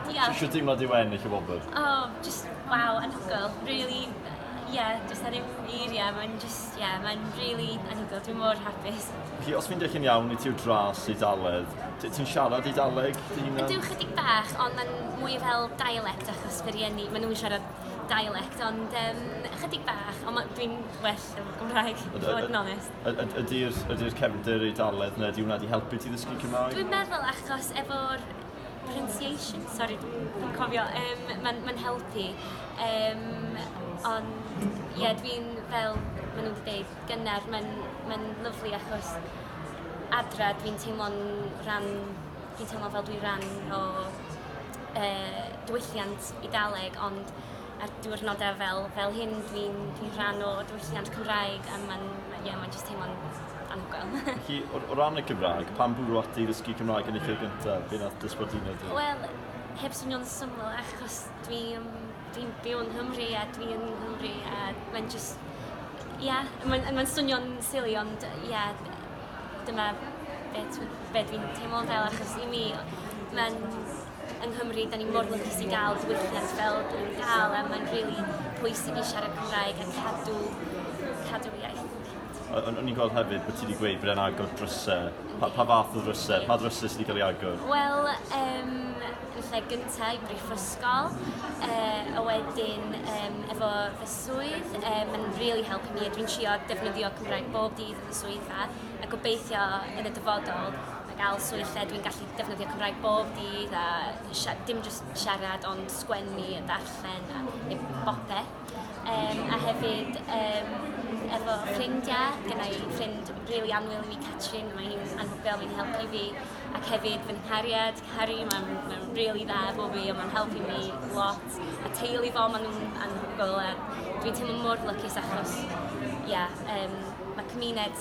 Diolch. Sut deimlad yw ennill y wobr? Oh, just wow, anhygoel. Really, yeah, just ar yw eiriau, mae'n just, yeah, mae'n really anhygoel. Dwi'n mor hapus. Felly, os fi'n deall yn iawn, i ti'w dras i daledd, ti'n siarad i daleg dy hunan? Dwi'n chydig bach, ond mae'n mwy fel dialect achos byr ienni, maen nhw'n siarad dialect, ond um, chydig bach, ond dwi'n well yn Gymraeg, i fod yn onest. Ydy'r cefndir ei daledd neu ydy hwnna wedi helpu ti ddysgu Cymraeg? Dwi'n meddwl achos efo'r Pronunciation sori dwi'n cofio yym ma'n ma'n helpu yym ond ie dwi'n fel ma' n'w 'di deud gynnar ma'n ma'n lyfli achos adra dwi'n teimlo'n ran dwi'n teimlo fel dwi ran o yy diwylliant Eidaleg ond ar diwrnodau fel, fel hyn dwi'n dwi rhan o diwylliant Cymraeg a mae'n ma, yeah, ma jyst teimlo'n anhygoel. Felly, o, o ran y Cymraeg, pan bwrw ati i ddysgu Cymraeg yn eich lle gyntaf, fe nath dysbordino ti? Wel, heb swnio'n syml achos dwi'n dwi byw yng Nghymru a dwi yn Nghymru a mae'n just... Ia, yeah, mae'n ma swnio'n silly ond ia, yeah, dyma be, be dwi'n teimlo fel achos i mi mae'n yng Nghymru, da ni mor lwcus i gael diwylliant fel da ni'n cael, a mae'n rili really pwysig i siarad Cymraeg a cadw, cadw iaith. O'n i'n gweld hefyd bod ti wedi gweud bod e'n agor drysau. Pa, pa fath o drysau? Pa drysau sydd wedi cael ei agor? Wel, um, yn lle gyntaf i brifysgol, uh, a wedyn um, efo fy swydd, uh, mae'n really helpu mi. Dwi'n trio defnyddio Cymraeg bob dydd yn y swyddfa, a gobeithio yn y dyfodol gael swydd lle dwi'n gallu defnyddio Cymraeg bob dydd a dim jyst siarad ond sgwennu a darllen a neu bopeth. Um, a hefyd um, efo ffrindiau, gyda i ffrind really anwyl i mi, Catrin, mae hi'n anhygoel, mae'n helpu fi. Ac hefyd fy nghariad, Harry, mae'n ma really dda efo fi, ond mae'n helpu mi lot. A teulu fo, maen nhw'n anhygoel. Dwi'n teimlo mor lycus achos, ia, yeah, um, mae cymuned